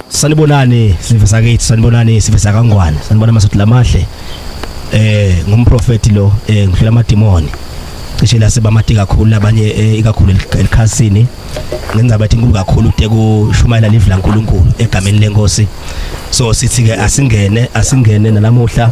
Sanibonani sive sakithi sanibonani sive sakangwane sanibona masothu lamahle eh ngumprofeti lo eh ngihlela amadimoni cishe la sebamati kakhulu abanye eh, ikakhulu elikhasini ngenza bathi inkulu kakhulu kude kushumayela live laNkuluNkulu egameni lenkosi so sithi ke asingene asingene nalamuhla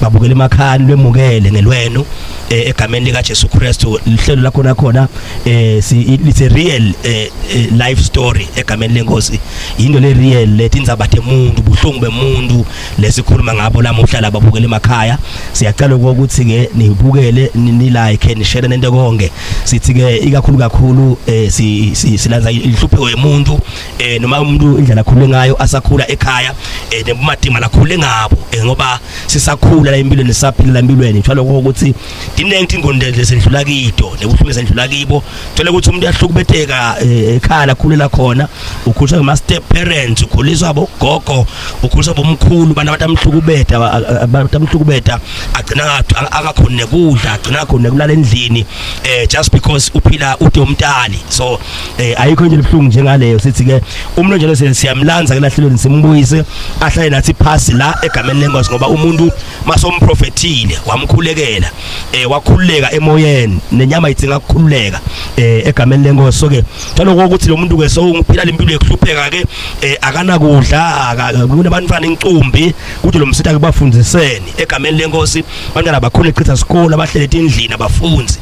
babukele emakhani lwemukele ngelwenu eh, egameni lika Jesu Kristu lihlelo lakho nakhona eh si it's a real eh, eh, life story egameni lenkosi into le real letindzaba temuntu buhlungu bemuntu lesikhuluma ngabo lamuhla laba bukele emakhaya siyacela ukuthi ke nibukele ni like ni share nento konke sithi ke ikakhulu kakhulu eh si silanza inhlupho yemuntu eh noma umuntu indlela akhule ngayo asakhula ekhaya eh nebumatima lakhule ngabo eh ngoba sisakhula la empilweni sisaphila la empilweni njalo ukuthi dinengi ingonde lesendlula kido nebuhlungu sendlula kibo thola ukuthi umuntu yahlukubetheka eh, ekhaya lakhulela khona ukhuliswa ngama step parents ukhuliswa bogogo ukhuliswa bomkhulu bana abantu amhlukubetha abantu amhlukubetha agcina akakhona nekudla agcina akakhona kulala endlini eh just because uphila ude umntali so eh ayikho into ebuhlungu njengaleyo sithi ke umuntu njalo siyamlanza ke lahlelweni simbuyise ahlale nathi phasi la egameni lenkosi ngoba umuntu masomprofethile wamkhulekela eh wakhululeka emoyeni nenyama idzinga ukukhululeka eh egameni lenkosi so ke njalo ukuthi lo muntu ke so ungiphila lempilo yokuhlupheka ke eh akanakudla kunabantwana incumbi kuthi lo msitha kubafundiseni egameni lenkosi abantwana bakhona echitha sikole abahlele endlini abafunzi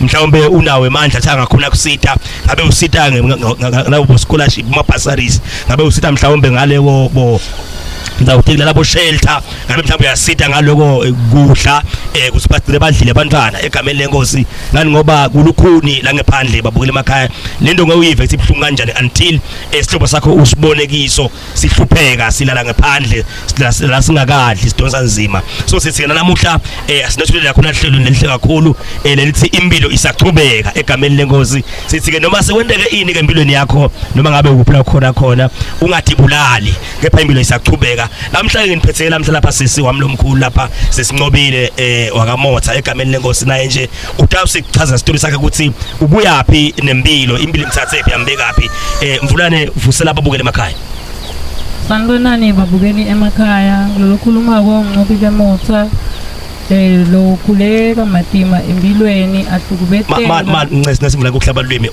mhlawumbe unawo emandla athi angakhona kusita ngabe usita ngabo scholarship ama bursaries ngabe usita mhlawumbe ngale bo ngizawuthi kulala bo shelter ngabe mhlawumbe uyasita ngaloko eh, kudla eh kusibadile badlile abantwana egameni lenkosi ngani ngoba kulukhuni la ngephandle babukele emakhaya lento ngewuyive ukuthi ibhlungu kanjani until eh, isihlobo sakho usibone kiso sihlupheka silala ngaphandle la singakadli sidonsa nzima so sithi yena namuhla eh sinethulile yakho nahlelo nelihle kakhulu eh lelithi impilo isaqhubeka egameni lenkosi sithi ke noma sekwenteke ini ke empilweni yakho noma ngabe ukuphi la khona khona ungadibulali kepha impilo isaqhubeka namhla ke ngiphetheke namhla lapha sisi wami lomkhulu lapha sesincobile eh wakamotha egameni lenkosi naye nje uTausi kuchaza isitori sakhe ukuthi ubuyaphi nempilo impilo imthathephi ambekaphi eh mvulane vusela ababukele emakhaya sanibonani babukeli emakhaya kulolu khuluma koncobi bemotha eh lo khuleka matima empilweni ahlukubetheke ma ma ncese nasimvula kuhlaba lwimi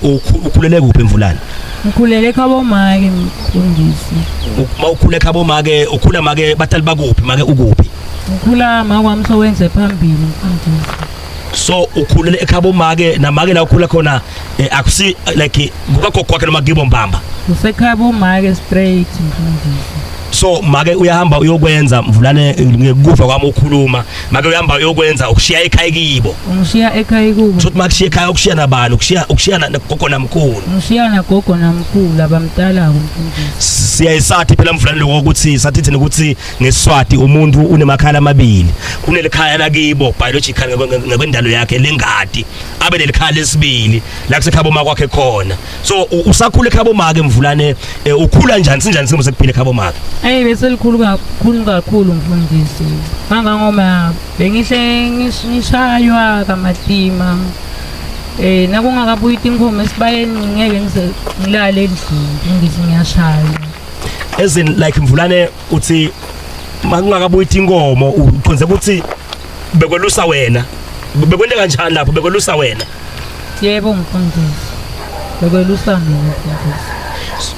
ukhulele kuphi emvulana ngikhulele khabo make mfundisi uma ukhule khabo make ukhula make batali bakuphi make ukuphi ngikhula makwamso wenze phambili mfundisi so ukhulele ekhabo make namake la ukhula khona eh, akusi like kukagogo kwakhe noma kibo mbamba usekhabo make straight mfundisi so make uyahamba uyokwenza mvulane ngekufa kwami ukhuluma make uyahamba uyokwenza ukushiya ekhaya kibo ngishiya ekhaya kubo sothi makushiya ekhaya ukushiya nabani ukushiya ukushiya nagogo namkhulu ngishiya nagogo namkhulu abamtalayo siyayisathi phela mvulane lokho ukuthi sathi thina ukuthi ngeswati umuntu unemakhala amabili kunelikhaya lakibo biological ngokwendalo yakhe lengadi abe nelikhala lesibili la kusekhabo makwakhe khona so usakhula ekhabo make mvulane eh, ukhula njani sinjani simo sekuphila ekhabo make hey bese likhulu kakhulu kakhulu mfundisi kangangoma bengihle ngishaywa kamatima eh nakungakabuyi tinkomo esibayeni ngeke ngilale endlini ngithi ngiyashaywa as in like mvulane uthi makungakabuyi inkomo uqonze ukuthi bekwelusa wena bekwente kanjani lapho bekwelusa wena yebo mfundisi bekwelusa mina mfundisi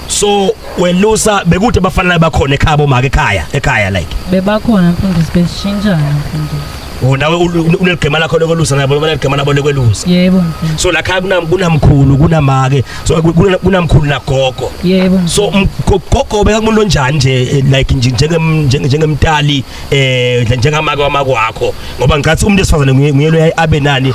so welusa bekude bafanele bakhona ekhaya bomake ekhaya ekhaya like bebakhona mfundisi besishintshana mfundisi Oh nawe uneligema lakho lokwelusa nabo noma ligema nabo lokwelusa. Yebo. So la khaya kunam kunamkhulu kunamake so kunamkhulu nagogo. Yebo. So gogo beka kumuntu onjani nje eh, like njengem njengemtali eh njengamake wamako wakho ngoba ngicathi umuntu esifazane nguye nguye abe nani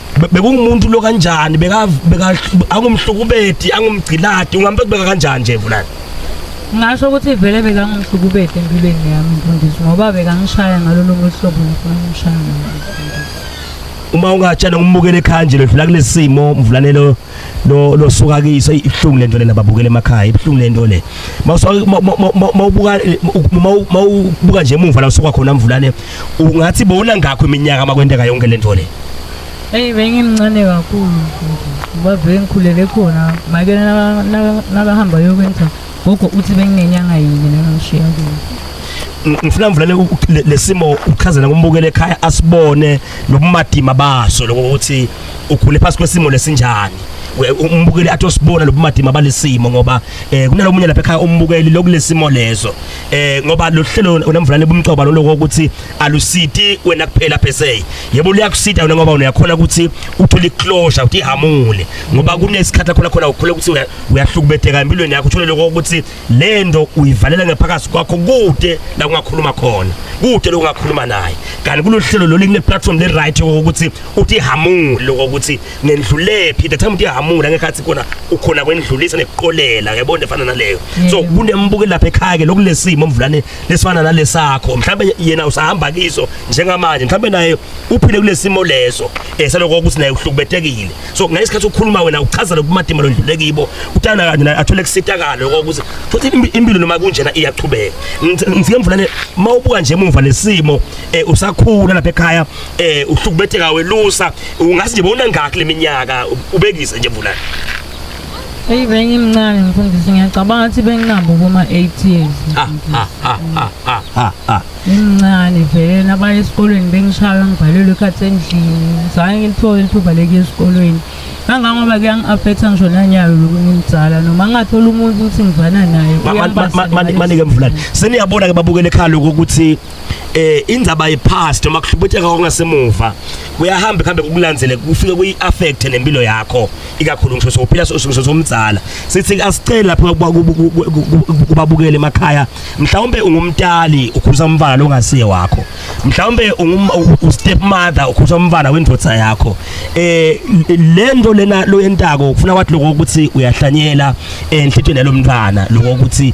bekungumuntu lo kanjani beka beka angumhlukubedi angumgciladi ungambe kubeka kanjani nje vulani ngasho ukuthi vele bekangumhlukubedi empilweni yami mfundisi ngoba bekangishaya ngalolu hlobo ngifuna umshaya uma ungatshela umbukele ekhaya nje ledlula kulesimo mvulanelo lo lo suka kiso ibuhlungu lento lena babukele emakhaya ibuhlungu lento le mawubuka mawubuka nje emuva la usuka khona mvulane ungathi bona ngakho iminyaka makwenteka yonke lento le Hey bengimncane kakhulu babe ngikhulele khona make nakahamba yokwenza gogo uthi benginenyanga yini nengishiya kuyo ngifuna mvulane lesimo uchazela kumbukele ekhaya asibone lobumadima baso lokuthi ukhule phansi kwesimo lesinjani umbukeli athi osibona lobumadima balesimo ngoba eh kunalomunye lapha ekhaya umbukeli lokulesimo lezo eh ngoba lohlelo unamvulane bumcoba lokho ukuthi alusiti wena kuphela per se yebo liyakusita wena ngoba uyakhona ukuthi uthole closure uthi hamule ngoba kunesikhathi khona khona ukhule ukuthi uyahlukubetheka empilweni yakho uthole lokho ukuthi lento uyivalela ngephakathi kwakho kude la ungakhuluma khona kude lokungakhuluma naye kanti kulohlelo lolu kune platform le right ukuthi uthi hamule ukuthi nendlulephi the time uthi hamule ngekhathi khona ukhona kwendlulisa nekuqolela yabona efana naleyo so kunembuke lapha ekhaya ke lokulesimo omvulane lesifana nalesakho mhlawumbe yena usahamba kiso njengamanje mhlawumbe naye uphile kulesimo leso esaloko eh, ukuthi naye uhlukubetekile so ngesikhathi ukhuluma wena uchaza lokumatima londlule kibo utana kanje naye athole kusitakalo ukuthi futhi impilo noma kunjena iyachubeka ngifike mvulane mawubuka nje emuva lesimo eh, usakhula lapha ekhaya eh uhlukubetheka welusa ungathi nje bona ngakho leminyaka ubekise nje bulana Hey bengimncane mfundisi ngiyacabanga ukuthi benginabo kuma 8 years. Ah ah ah ah ah ah. ah. Ngimncane vele nabaya esikolweni bengishaywa ngibhalelwe ikhathi endlini. Zange ngilithole ithuba lekuya esikolweni. Kangangoba kuyangi-affecta ngisho nanyayo lokhu ngimdzala noma ngingathola umuntu ukuthi ngivana naye. Manike mvulane. Seniyabona ke babukele ekhaya lokho ukuthi eh indzaba yepast uma kuhlubutheka kongasemuva kuyahamba kuhambe kukulandzele kufike kuyi affect nempilo yakho ikakhulu ngisho sophila sosuke somdzala sithi asicela lapha kubabukele emakhaya mhlawumbe ungumtali ukhuza umfana longasiye wakho mhlawumbe u step mother ukhuza umfana wendvodza yakho eh lento lena loyentako ufuna wathi lokho ukuthi uyahlanyela enhlitweni yalomntwana lokho ukuthi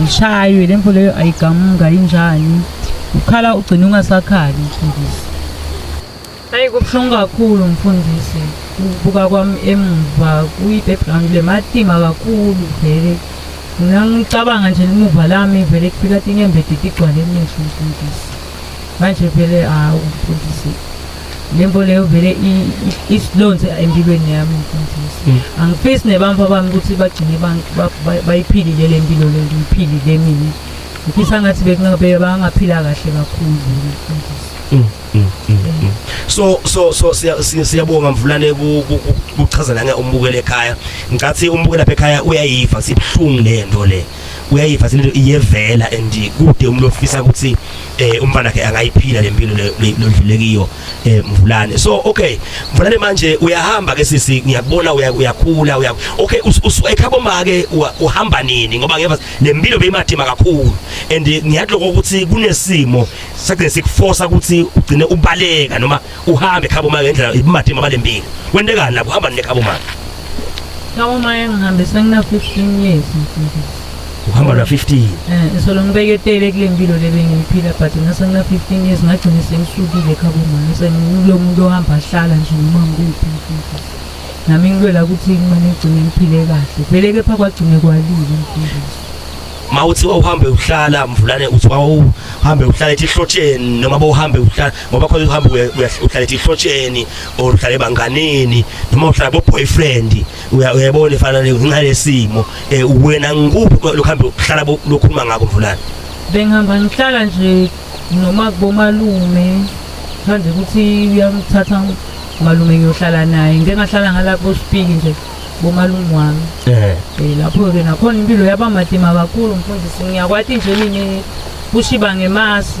ngishaywe le mfo leyo ayigamuka injani ukhala ugcina ungasakhali mfundisi hayi kubuhlungu kakhulu mfundisi ukubuka kwami emuva kuyi-background le matima kakhulu vele mina ngicabanga nje limuva lami vele kufika tinyembedidi igcwale emehlo mfundisi manje vele hawu mfundisi le nto leyo vele isilonze empilweni yami mfundisi hmm. angifisi nebamfa bami ukuthi bagcine bayiphilile le mpilo le ngiyiphilile mina ngifisa ngathi bekungabe bangaphila kahle kakhulu mfundisi hmm, hmm, so so so siyabonga mvulane kuchaza nange umbukele ekhaya ngicathi umbukela lapha ekhaya uyayiva sibuhlungu le nto le uyayiva lento iyevela and kude umuntu ofisa ukuthi eh umfana ke angayiphila lempilo lodlule kiyo eh mvulane so okay mvulane manje uyahamba ke sisi ngiyakubona uyakhula uya okay usuekhabo make uhamba nini ngoba ngeva lempilo beyimathima kakhulu and ngiyadloko ukuthi kunesimo sakugcina sikuforce ukuthi ugcine ubaleka noma uhambe khabo manje ngendlela ibumatima abalembile kwentekani lapho hamba nekhabo manje Khabo manje ngihambe sengina 15 years mfundisi uhamba la 15 eh isolo ngibeke tele kule mpilo lebe ngiphila but ngase ngina 15 years ngagcina sengisukile khabo manje sengilo muntu ohamba ahlala nje noma ngikuphi mfundisi nami ngilwela ukuthi kumane ngigcine ngiphile kahle vele kepha kwagcine kwalile mfundisi mawuthi wawuhambe uhlala mvulane uthi wawuhambe uhlala ethi hlotsheni noma bowuhambe uhlala ngoba khona uhamba uhlala ethi ihlotsheni or uhlala ebanganeni noma uhlala bo boyfriend uyabona efana ngenxa lesimo eh, wena ngikuphi lokho hambe uhlala lokhuluma ngako mvulana bengihamba ngihlala nje noma kubomalume manje ukuthi uyamthatha malume ngiyohlala naye ngeke ngahlala ngalapho sipiki nje bomalume wami eh, eh lapho-ke nakhona impilo yaba madima kakhulu mfundisi ngiyakwati nje mina kushiba ngemasi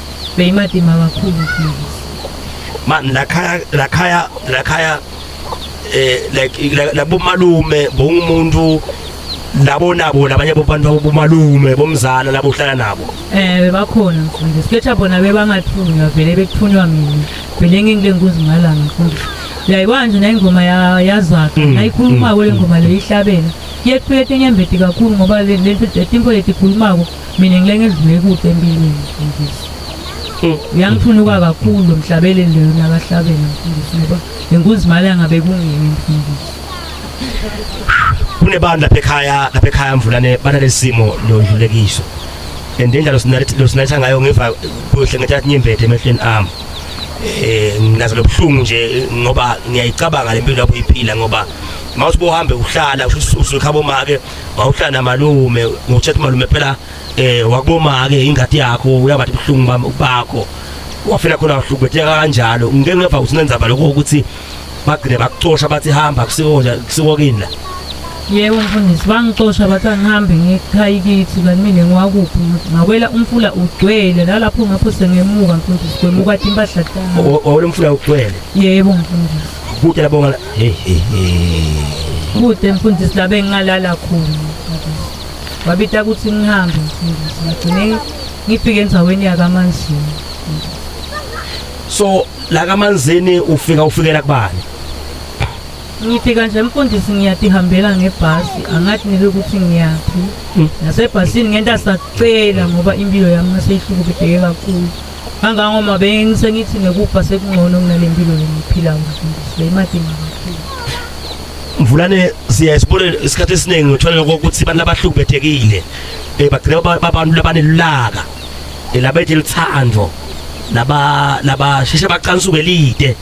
beyimadima kakhulu man lakhaya lakhaya lakhaya eh like labo malume bongumuntu labo nabo labanye bobantu bomalume bomzala labo uhlala nabo eh bakhona mfundisi ketha bona bebangathunywa vele bekuthunywa mina vele ngingile nguzi ngalanga mfundisi yayibona nje nayingoma yazwakhe mm, nayikhulumako mm, le ngoma mm. leyo ihlabela yethu yetenyembeti kakhulu ngoba lento letimpo letikhulumako mina ngilenge ngidlule kude empilweni mfundisi hmm. uyangiphunuka kakhulu lo mhlabele leyo nakahlabela mfundisi ngoba nenkunzi imali angabe kungimi mfundisi kunebantu lapha ekhaya lapha ekhaya mvulane banalesimo lodlulekiso and indlela losinalitha ngayo ngiva kuhle ngathi athi nyimbethe emehlweni ami eh nginazo lobuhlungu nje ngoba ngiyayicabanga lempilo lapho iphila ngoba mawuthi bohambe uhlala usukhabo make wawuhlala namalume ngokutshela ukuthi malume phela um wakuboma-ke ingadi yakho uyabathi buhlungu bakho wafela khona wahlukubetheka kanjalo ngike ngeva ukuthi nenzaba lokho ukuthi bagcine bakucosha bathi hamba kusiko kini la yebo mfundisi bangicosha bathi angihambe ngikhaya kithi kanti mina ngiwakuphi ngakwela umfula ugcwele nalapho ngapho sengemuka mfundisi kwemuka impahla tami wawela umfula ugcwele yebo mfundisi kude labonga Hey hey hey. Kude mfundisi la bengingalala khona. Wabita ukuthi ngihambe mfundisi. Ngagcine ngifike endaweni yakaManzini. So la kaManzini ufika ufikela kubani? Ngifika nje mfundisi ngiyatihambela ngebhasi angathi nike ukuthi ngiyaphi. Nasebhasini ngenta sacela ngoba impilo yami naseyihlukumezeke kakhulu. Kangangoba bengisengithi nekufa sekungcono kunale mpilo lengiphilayo mfundisi beyimadinga kakhulu. Mvulane siya isibone isikhathi esiningi uthola ukuthi abantu abahlubethekile eh bagcina abantu labanelulaka eh, labethe lithando laba laba sheshe baqansuke lide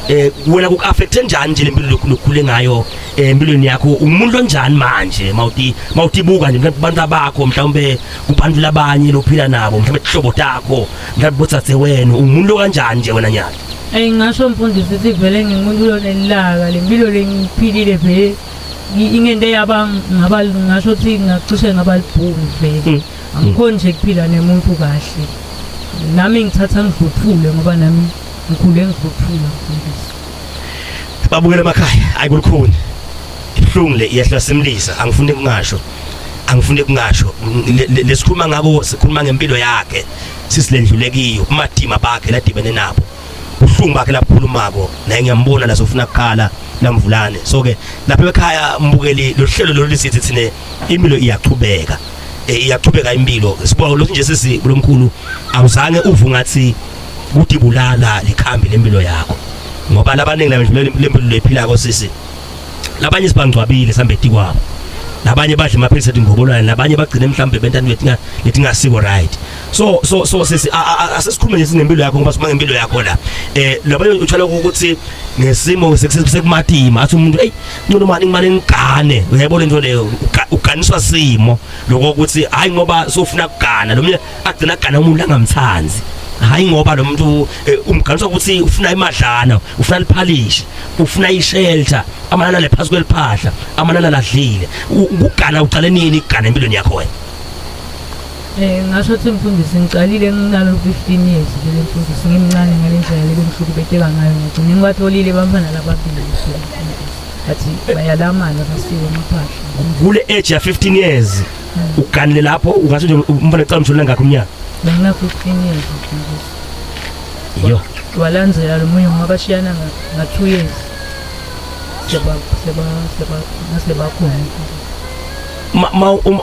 eh wena kuaffecte njani nje lempilo lokukhule ngayo eh, empilweni yakho umuntu onjani manje mawuti mawutibuka nje abantu abakho mhlawumbe kubantu labanye lophila nabo mhlawumbe ihlobo takho mhlawumbe botsatse wena ungumuntu kanjani nje wena nyala eyi ngasho mfundisi ukuthi vele ngingumuntu lonelilaka le mpilo lengiphilile vele ingento eyaba ngaba ngasho ukuthi ngacishe ngaba libhungu vele hmm. angikhoni nje kuphila nemuntu kahle nami ngithatha ngidluthule ngoba nami ngikhule ngidluthula mfundisi babukela emakhaya ayi kulukhuni ibuhlungu le iyehla simlisa angifuni kungasho angifuni kungasho lesikhuluma ngako sikhuluma ngempilo yakhe sisilendlulekiyo umadima bakhe ladibene nabo uhlungu bakhe labukhulumako naye ngiyambona la sofuna kukhala lamvulane so ke lapha ekhaya mbukeli lohlelo lolu sithi thine impilo iyaqhubeka eh, iyaqhubeka impilo sibonga lokhu nje sisi kulomkhulu awuzange uvu ngathi kudibulala likhambi lempilo yakho ngoba labaningi labendlulela lempilo lephila ko sisi labanye sibangcwabile sambeti kwabo nabanye badla amaphilisi ethi ngobolwane nabanye bagcine mhlawumbe bentana letinga letingasiko right so so so sisi asesikhulume nje sinempilo yakho ngoba sima ngempilo yakho la eh labanye utshala ukuthi ngesimo sekumatima athi umuntu hey ncono mani ngimane ngigane uyayibona into leyo uganiswa simo lokho ukuthi hayi ngoba sofuna kugana lo mina agcina agana umuntu angamthandi hayi ngoba lo muntu eh, umganisa ukuthi ufuna imadlana ufuna liphalishi ufuna ishelter amanana lephasi kweliphahla amanana ladlile ukugana uqale nini ukugana empilweni yakho wena Eh ngasho ukuthi mfundisi ngiqalile nginalo 15 years le mfundisi ngimncane ngale ndlela le bengihlukubeteka ngayo ngigcine ngibatholile bamfana lababili athi bayalamana basiko amaphahla kule age ya 15 years uganile lapho ungase nje umfana ecala umshulula ngakho umnyaka bengakho iqiniso yo walandzela lo munye ngoba bashiyana nga-two years sebakhona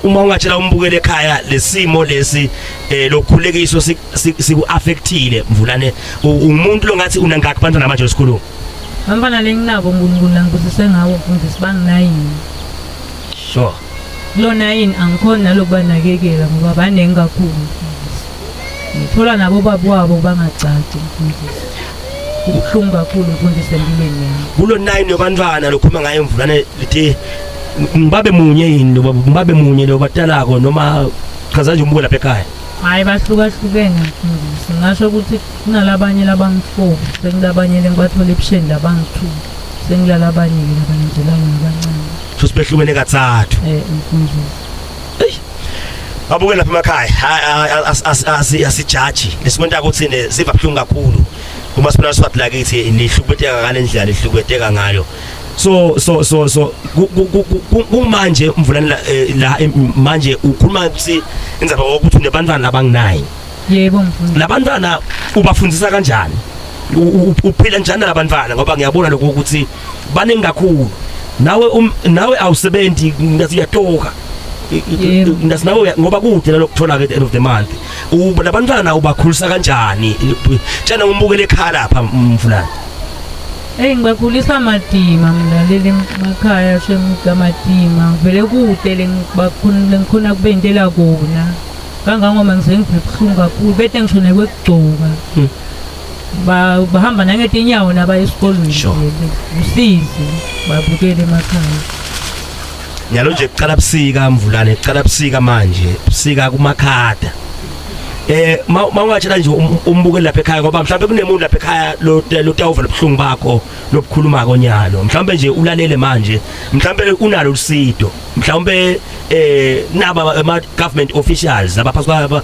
uma ungatshela umbukele ekhaya lesimo lesi eh lokhulekiso siku-affectile mvulane umuntu longathi unangakhi bantwana manje esikhuluma bantwana lenginabo unkulunkulu langibusise ngawo mfundisi banginayini sure Lona yini angikhoni nalokubanakekela ngoba baningi kakhulu mfundisi. Ngithola nabo baba wabo bangagcagci mfundisi. Ubuhlungu kakhulu mfundisi empilweni yami. Kulo 9 yobantwana lokhuluma ngaye mvulane lithi ngibabe munye yini lo baba ngibabe munye lo batalako noma chaza nje umbuko lapha ekhaya. Hayi bahlukahlukene mfundisi. Ngasho ukuthi kunalabanye labangifo, sekulabanye lengibathola ebusheni labangithu. Sengilala abanye labanye nje labo abancane. futhi behlukene kathathu eh mfundisi babuke lapha emakhaya asijaji lesikwenta ukuthi siva buhlungu kakhulu uma sibona swati lakithi lihlukubeteka ngalendlela lihlukubeteka ngayo so so so so kumanje umvulani la eh, la eh, manje ukhuluma ukuthi inzaba ukuthi unebantwana labanginayi yebo mfundisi labantwana ubafundisa kanjani uphila njani labantwana ngoba ngiyabona lokho ukuthi baningi kakhulu nawe um, nawe awusebenzi ngathi uyatoka ngathi nawe ngoba kude lokuthola ke at the end of the month uba labantwana ubakhulisa kanjani tshena umbukele ekhaya lapha mfulana Hey ngibakhulisa madima mina leli makhaya shemga madima vele kude lengibakhona lengikhona kubentela kona kangangoba ngize ngibuhlungu kakhulu bete ngisho nekwekugcoka hmm. bahamba nangetinyawo nabaya esikolweni Sure. usizi babukele emakhaya nyalo nje kuqala busika mvulane kuqala busika manje busika kumakhada eh ma ma ungatshela nje um- umbuke lapha ekhaya ngoba mhlawumbe kunemuntu lapha ekhaya lo- lotawuva lobuhlungu bakho lobukhuluma konyalo mhlawumbe nje ulalele manje mhlawumbe unalo usido mhlawumbe eh naba ama government officials abaphathi kwaba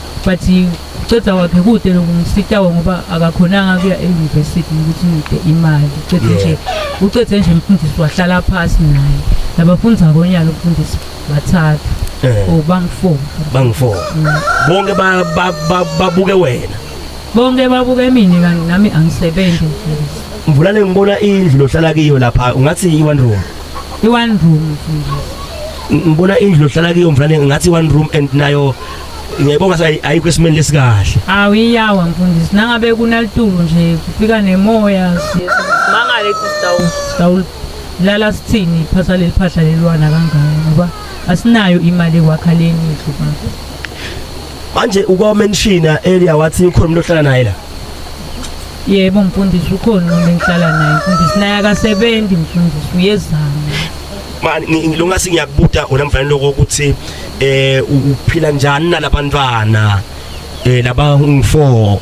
but uceda wakhe kude lokumsitawo ngoba akakhonanga kuya e-university ukuthi ngide imali ucede nje ucede nje mfundisi wahlala phasi naye nabafundi akonyana umfundisi bathathu eh. or oh, bangu-four bangu-four mm. bonke babuke wena bonke babuke mina kanti nami angisebenzi mvulane ngibona indlu lohlala kiyo lapha ungathi i-one room i-one room mfundisi ngibona indlu lohlala kiyo mfulane ngathi one room and nayo ngiyayibonga sa ayikho esimeni lesikahle awiyawa mfundisi nangabe kunalitulu nje kufika nemoya mangale sitawula sitawula lala sithini phasa leli phahla lelwana kangaka ngoba asinayo imali ekwakha leni indlu manje manje ukwamenshina earlier wathi ukhona umuntu ohlala naye la yebo mfundisi ukhona umuntu engihlala naye mfundisi naye akasebenzi mfundisi uyezama mani ngilungasi ngiyakubuta wena mfanele lokuthi eh uphila njani nalabantwana eh laba ungifo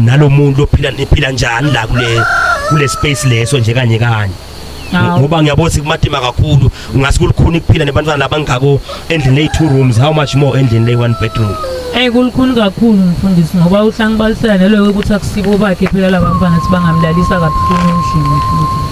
nalomuntu ophila niphila njani la kule kule space leso nje kanye kanye ngoba ngiyabona kumatima kakhulu ungase kulikhuni kuphila nebantwana labangako endlini lay two rooms how much more endlini lay one bedroom Eh kulikhulu kakhulu mfundisi ngoba uhlangu balisela nelo ukuthi akusiko bakhe phela labantwana sibangamlalisa kabuhlungu endlini futhi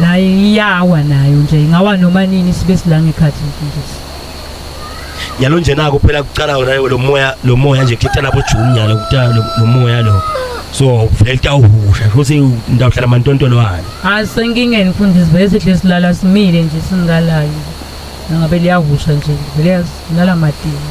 naye iyawa nayo nje ingawa noma nini sibe silanga ekhathi mfundisi yalo nje naku phela kuqala wona lo moya lo moya nje kuthatha lapho June yalo kuthatha lo moya lo so vele tawuhusha futhi ndawuhlala amantontolo wani asenkingeni mfundisi vele sihle silala simile nje singalayo ngabe liyahusha nje vele silala madini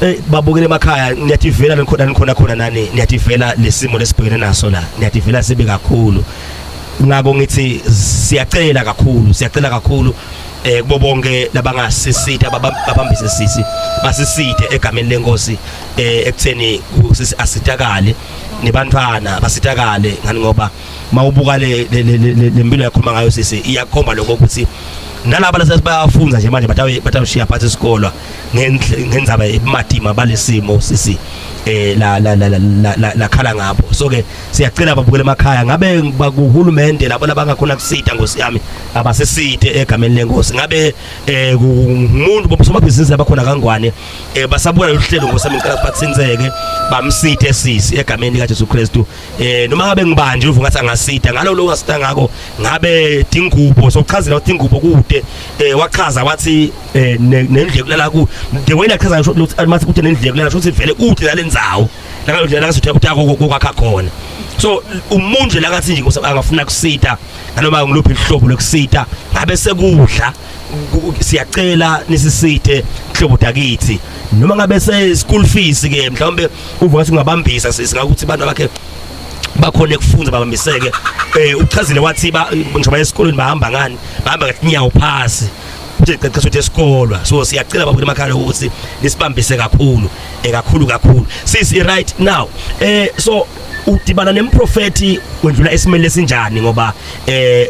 Eh babukele emakhaya niyativela nikhona nikhona khona nani niyativela lesimo lesibhekene naso la niyativela sibi kakhulu ngako ngithi siyacela kakhulu siyacela kakhulu eh kubo bonke labangasisitha babambise sisi basisithe egameni lenkosi eh ekutheni sisi asitakale nebantwana basitakale ngani ngoba mawubuka le lempilo yakhuluma ngayo sisi iyakhomba lokho ukuthi nalabo lasebayafunza nje manje batawushiya phansi isikolo ngenzaba ebumatima balesimo sisi eh la la la la la khala ngapho so ke siyacela babukele emakhaya ngabe bakuhulumende labo labangakhona kusita ngosi yami abasesite egameni lenkosi ngabe eh umuntu bobusomabhizinisi abakhona kangwane eh basabuka lolu hlelo ngosi yami ngicela batsinzeke bamsite sisi egameni lika Jesu Kristu eh noma ngabe ngibanje uvu ngathi angasida ngalo lo wasida ngako ngabe dingubo sokuchazela ukuthi ingubo kude eh wachaza wathi eh, nendle kulala ku the way lachaza mathi kude nendle kulala ukuthi vele kude lalenzawo la ngalo la ngasuthi ukuthi akho kokwakha khona so umuntu nje lakathi nje angafuna kusita noma ngiluphi ihlobo lokusita ngabe sekudla siyacela nisisithe hlobo dakithi noma ngabe se school fees ke mhlawumbe uvuka singabambisa singakuthi abantu bakhe bakhona ekufunza babambiseke eh uchazile wathi ba ngisho baye esikolweni bahamba ngani bahamba ngenyawo phasi kuthi qeqesho ukuthi esikolwa so siyacela babuke emakhaya ukuthi nisibambise kakhulu ekakhulu eh, kakhulu sisi right now eh so udibana nemprofethi wendlula esimele sinjani ngoba eh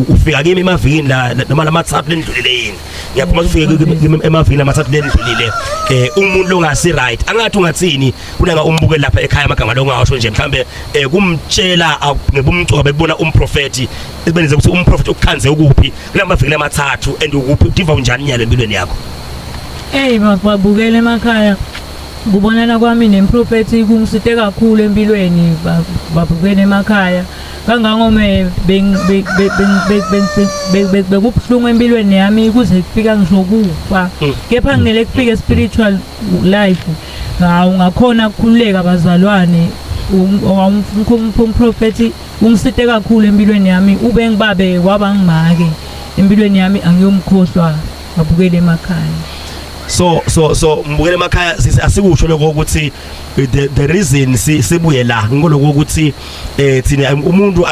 ufika kimi emavikini la noma lamathathu lendlulile yini ngiyaphuma ufike emavikini lamathathu lendlulile eh umuntu longasi right angathi ungathini kunanga umbuke lapha ekhaya amagama longasho nje mhlambe eh kumtshela ngebumcoba bekubona umprofethi esibenze ukuthi umprofethi ukukhanze ukuphi kulamavikini amathathu and ukuphi udiva unjani nyalo empilweni yakho hey mababukele emakhaya Kubonana kwami nemprofethi kungisite kakhulu empilweni babukene emakhaya kangangome bekubuhlungu empilweni yami kuze kufika ngisho kufa hmm. kepha nginele kufike spiritual life hawu ngakhona kukhululeka bazalwane umprofethi ungisite kakhulu empilweni yami ube ngibabe waba ngimake empilweni yami angiyomkhohlwa ngabukele emakhaya so so so ngibukele emakhaya asikusho lokho ukuthi the, the reason sibuye la ngoloko ukuthi eh thina umuntu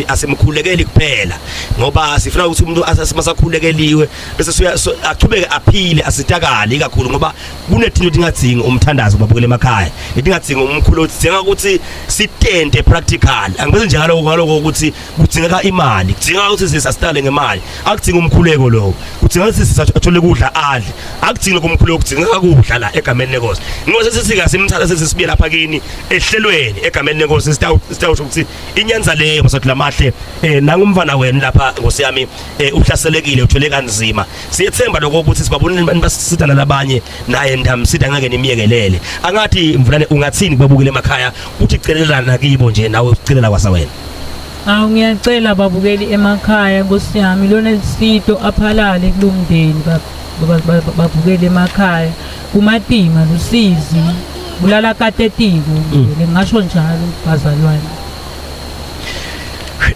asimkhulekeli kuphela ngoba sifuna ukuthi umuntu asimasakhulekeliwe bese suya achubeke aphile asitakale kakhulu ngoba kunethinto edingadzinga umthandazo babukele emakhaya edingadzinga umkhulu odinga ukuthi sitente practical angibese njalo ngaloko ukuthi kudingeka imali kudingeka ukuthi sisi asitale ngemali akudinga umkhuleko lowo kudingeka ukuthi sisi athole kudla adle akudinga kumkhuleko kudingeka kudla la egameni lenkosi inkosi sisika simthatha sisi sibuye lapha kini ehlelweni egameni lenkosi sitawusho ukuthi inyanza leyo basathi lamahle eh nangumfana wenu lapha nkosi yami eh, uhlaselekile uthwele kanzima siyethemba lokho ukuthi sibabonile abantu basisita nalabanye naye ndamsida ngeke nimyekelele angathi mvulane ungathini kubabukile emakhaya uthi celelana kibo nje nawe ucelela kwasa wena Awu ngiyacela babukeli emakhaya nkosi yami lona lisito aphalale kulomndeni babukele emakhaya kumatima lusizi bulala katetiko mm. ngasho njalo bazalwane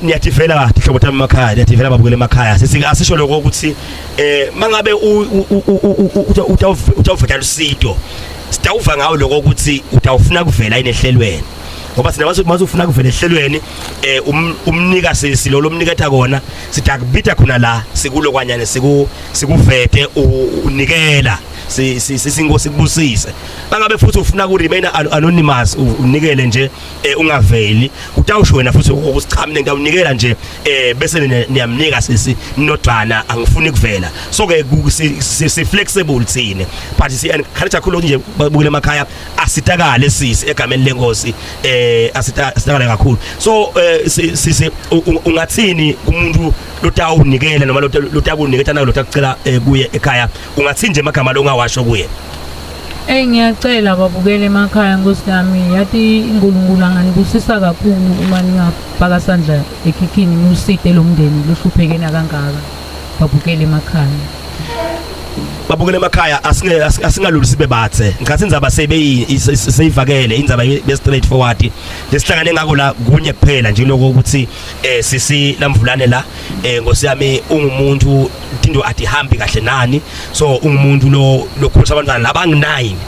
niyathivela kahle hlobo thami emakhaya niyathivela babukele emakhaya sisi asisho lokho ukuthi eh mangabe utawuvela usito sitawuva ngawo lokho ukuthi utawufuna kuvela inehlelweni ngoba sina masufuna kuvele ehlelweni eh um, umnika sisi lo lomniketha kona sithi akubitha khona la sikulo kwanyane siku sikuvete unikela sisinkosi kubusise bangabe futhi ufuna ku remain anonymous unikele nje eh, ungaveli utawusho wena futhi ukusiqhamile ngiyawunikela nje eh, bese niyamnika sisi nodwana angifuni kuvela so ke si flexible thina but si encourage kakhulu nje babukele emakhaya asitakale sisi egameni lenkosi eh asitakale kakhulu so eh, sisi ungathini kumuntu lotawunikela noma lotakuniketa nayo lotakucela eh, kuye ekhaya ungathini nje amagama longawasho kuye Ey ngiyacela babukele emakhaya nkosi yami yathi uNkulunkulu anganibusisa kakhulu uma ningabhaka sandla ekhikhini nuside lomndeni lohluphekena kangaka babukele emakhaya babukele emakhaya asingalulu sibe bathe ngikhathi indzaba seyivakele indzaba be straight forward lesihlangane ngako la kunye kuphela nje lokho ukuthi eh sisi lamvulane la eh ngosi yami ungumuntu into atihambi kahle nani so ungumuntu lo lokhulisa abantwana labanginayini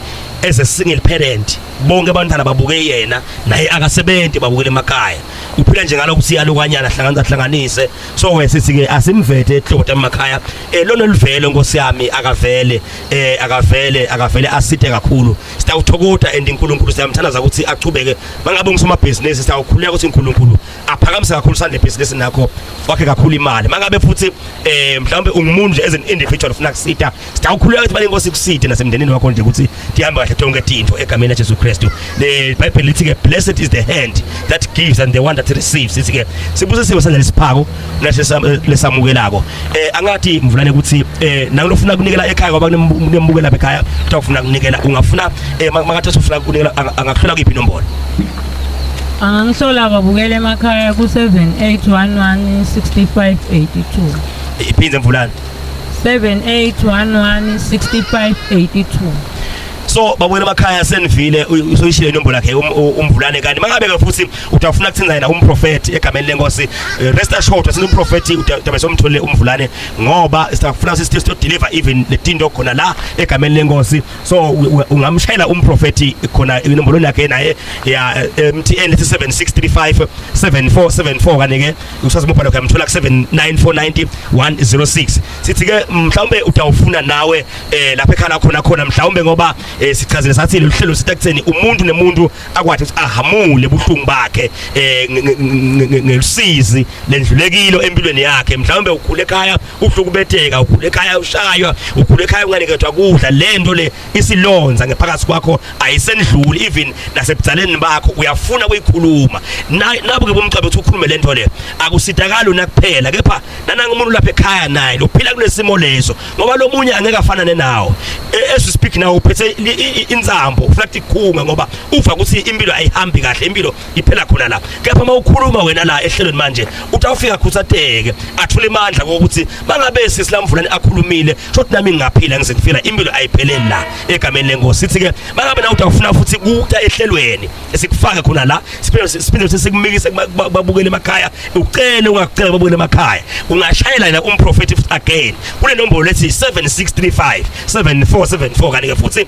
as a single parent bonke abantwana babuke yena naye akasebenzi babukele emakhaya uphila nje ngalokho siyalukanyana hlanganisa hlanganise so we sisi ke asimvethe ehlota emakhaya eh lona olivele nkosi yami akavele eh akavele akavele aside kakhulu sitawuthokoda and uNkulunkulu siyamthandaza ukuthi achubeke mangabe ngusomabhizinisi sitawukhuleka ukuthi uNkulunkulu aphakamise kakhulu sande business nakho wakhe kakhulu imali mangabe futhi eh mhlawumbe ungumuntu nje as an individual ufuna kusita Sitawukhuleka ukuthi balenkosi kuside nasemndenini wakho nje ukuthi ndihambe kahle tonke tinto egameni laJesu Kristu. Le Bible lithi ke blessed is the hand that gives and the one that receives. Sithi ke sibusisiwe sandla lesiphako nashe lesamukelako. Eh angathi mvulane ukuthi eh nakulofuna kunikela ekhaya ngoba kunembukela ekhaya utakufuna kunikela ungafuna eh makathi usufuna kunikela angakhula kuyiphi inombolo. Angangihlola babukele emakhaya ku 7811 6582. Iphinde mvulane 7811 6582 so babona emakhaya senivile usoyishile inombolo yakhe um, umvulane kanti mangabe ke futhi utafuna kuthinza yena umprofeti egameni lenkosi eh, rest assured asino umprofeti utabe somthole umvulane ngoba sitafuna sisi to deliver even le tinto khona la egameni lenkosi so ungamshayela umprofeti khona inombolo yakhe naye ya eh, MTN 7635 7474 kanike usazibopha lokho yamthola ku 7949 106 sithi ke mhlawumbe utawufuna nawe eh lapha ekhala khona khona mhlawumbe ngoba eh, sichazile sathi lolu hlelo sitakutheni umuntu nemuntu akwathi ukuthi ahamule buhlungu bakhe eh ngelusizi lendlulekilo empilweni yakhe mhlawumbe ukhule ekhaya uhlukubeteka ukhule ekhaya ushaywa ukhule ekhaya unganikethwa kudla lento le isilonza ngephakathi kwakho ayisendluli even nasebudaleni bakho uyafuna kuyikhuluma nabo ke bomcebo ukuthi ukhulume lento le akusitakali una kuphela kepha nananga umuntu lapha ekhaya naye lophila kunesimo leso ngoba lomunye angeke afanane nawo e, as we speak now uphethe insambo ufuna ukuthi ikhunga ngoba uva ukuthi impilo ayihambi kahle impilo iphela khona la kepha uma ukhuluma wena la ehlelweni manje uthi awufika khuthateke athule imandla kokuthi bangabe sisilamvulani akhulumile shothi nami ngingaphila ngize ngifila impilo ayipheleli la egameni lenkosi sithi ke bangabe na uthi awufuna futhi kuta ehlelweni esikufake khona la siphinde siphinde sikumikise babukele emakhaya ucele ungakucela babukele emakhaya ungashayela yena umprofeti again kule nombolo lethi 7635 7474 kanike futhi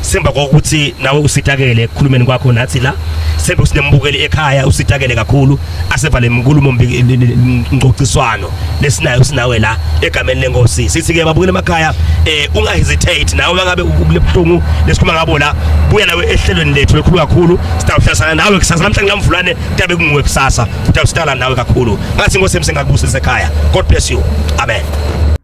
Semba kokuthi nawe usitakele ekukhulumeni kwakho nathi la sembe sinembukeli ekhaya usitakele kakhulu asevale inkulumo ngcociswano lesinayo sinawe la egameni lenkosi sithi ke babukele emakhaya eh unga hesitate nawe mangabe ubuhlungu lesikhuluma ngabo la buya nawe ehlelweni lethu elikhulu kakhulu sitawuhlasana nawe kusasa namhlanje ngamvulane tabe kunguwe kusasa utawusitala nawe kakhulu ngathi inkosi emsengakubusisa ekhaya god bless you amen